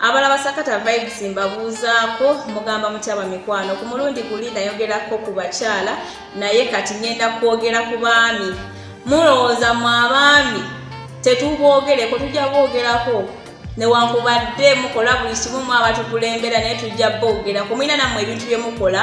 abala basakata vibes mbabuuzaako mugamba mutyaba mikwano ku mulundi guli nayogerako ku bakyala naye kati ngenda kwogera ku baami mulowooza mu abaami tetuboogereko tujja boogerako newankubadde mukola buli kimu mu abatukulembera naye tujja boogerako mulina nammwe ebintu bye mukola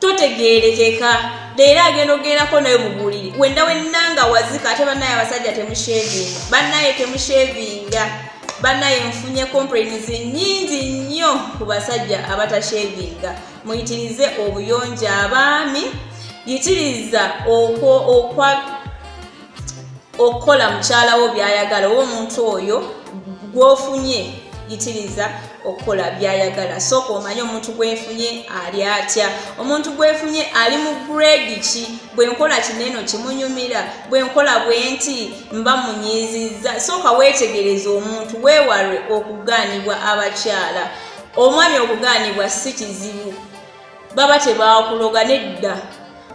totegeerekeka leero agenda okugendako nayo mubuliri wenda wennanga wazika ate banaye abasajja temushevinga banaye temushevinga banaye nfunye complains nyingi nnyo ku basajja abatashevinga muyitirize obuyonjo abaami yitiriza okwo okwa okukola mukyala wo byayagala oba omuntu oyo gwofunye yitiriza okukola byayagala sooka omanye omuntu gwefunye ali atya omuntu gwefunye ali mu grade ki bwenkola kineno kimunyumira bwenkola bwenti mba munyiizizza sooka weetegereza omuntu weewalwe okugaanibwa abakyala omwami okugaanibwa si kizibu baba tebakuloga nedda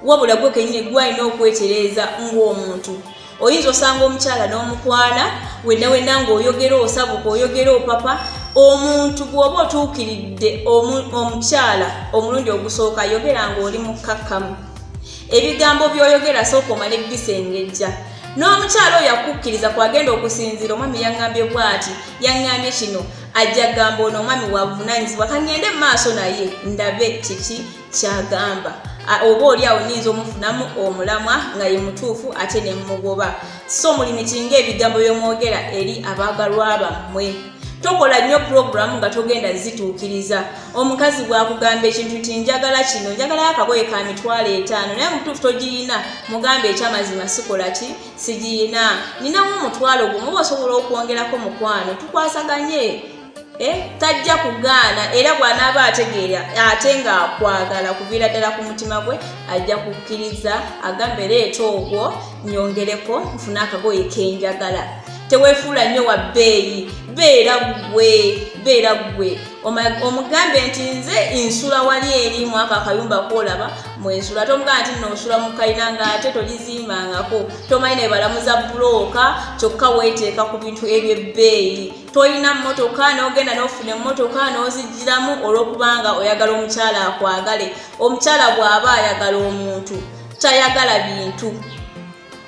wabula gwe kenyini gwalina okwetereeza ng'omuntu oyinza osanga omukyala n'omukwana wenna wenna ng'oyogera osabuka oyogera opapa omuntu bw'oba otuukiridde omukyala omulundi ogusooka yogera ng'oli mukkakkamu ebigambo by'oyogera sooka omale bisengejja n'omukyala oyo akukkiriza kwagenda okusinziira omwami yaŋŋambye bwati yaŋŋambye kino ajja gamba ono omwami wavunanyizibwa kangende mu maaso naye ndabe kiki kyagamba oba oli awo nyinza omufunamu omulamwa nga ye mutuufu ate ne mumugoba so muli mikinga ebigambo byomwogera eri abaagalwa bammwe tokola nnyo pulogulamu nga togenda zituukiriza omukazi bwakugamba ekintu ti njagala kino njagalayo akagoye ka mitwalo etaano naye mutuufu togirina mugamba ekyamazima sikola ki sigiyina ninawo omutwalo gumu basobola okwongerako mukwano tukwasaganye eh, tajja kugaana era bwanaaba ategeera ate ngaakwagala kuviira ddala ku mutima gwe ajja kukkiriza agambe leeta ogwo nyongereko nfuna akagoye kenjagala tewefuula nnyo wa bbeeyi beera gwe beera gwe omugambe nti nze nsula wali eri mwako akayumba kwolaba mwensula ate omugamba nti nosula mukalina nga ate tolizimbangako tomanyi nebalamuza bulooka kyokka weteeka ku bintu ebyebbeeyi tolina mmotoka nogenda nofuna emmotoka nozijjiramu olwokubanga oyagala omukyala akwagale omukyala bw'aba ayagala omuntu tayagala bintu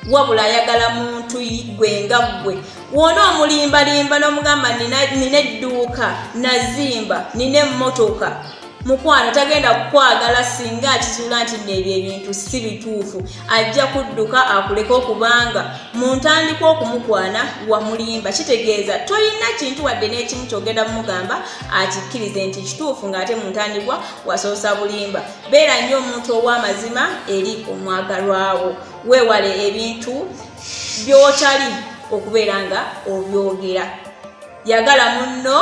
wabula ayagala muntu gwe nga ggwe wona omulimbalimba n'omugamba nina edduuka nazimba nina emmotoka mukwano tagenda kukwagala singa akizuula nti neebyo ebintu si bituufu ajja kudduka akuleka okubanga mu ntandikwa okumukwana wamulimba kitegeeza tolina kintu wadde n'ekimu kyogenda mumugamba akikkirize nti kituufu ng'ate mu ntandikwa wasoosa bulimba beera nnyo omuntu ow'amazima eri omwagalwawo weewale ebintu by'otali okubeera nga obyogera yagala munno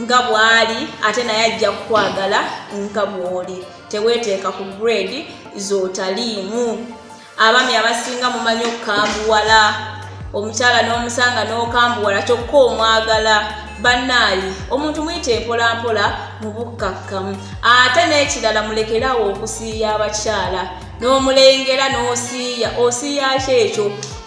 nga bw'ali ate naye ajja kukwagala nga bw'oli teweeteeka ku grade z'otaliimu abami abasinga mumanyi okukambuwala omukyala n'omusanga n'okambuwala kyokka omwagala bannaayi omuntu muyita empolampola mu bukkakkamu ate n'ekirala mulekerawo okusiiya abakyala n'omulengera n'osiiya osiiyaki ekyo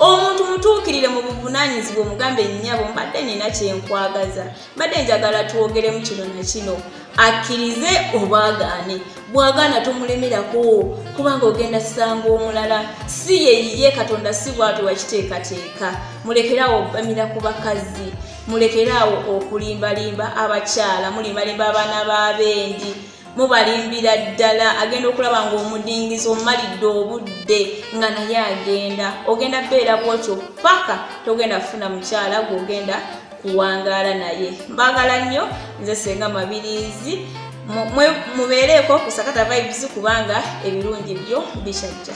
omuntu mutuukirire mu buvunanyizibwa omugambe nnyabo mbadde nina kyenkwagaza mbadde njagala twogeremu kino na kino akkirize obwagaane bwagaana tomulemerako kubanga ogenda sanga omulala si yeyiye katonda si bwatu wakiteekateeka mulekeraawo obamira ku bakazi mulekeraawo okulimbalimba abakyala mulimbalimba abaana b'abendi mubalimbira ddala agenda okulaba ngaomudingizi omalidde obudde nga naye agenda ogenda beera bwotyo paka togenda kufuna mukyala gweogenda kuwangaala naye mbagala nnyo nze senga mabirizi mubeereeko kusakata vibes kubanga ebirungi byo bikyajja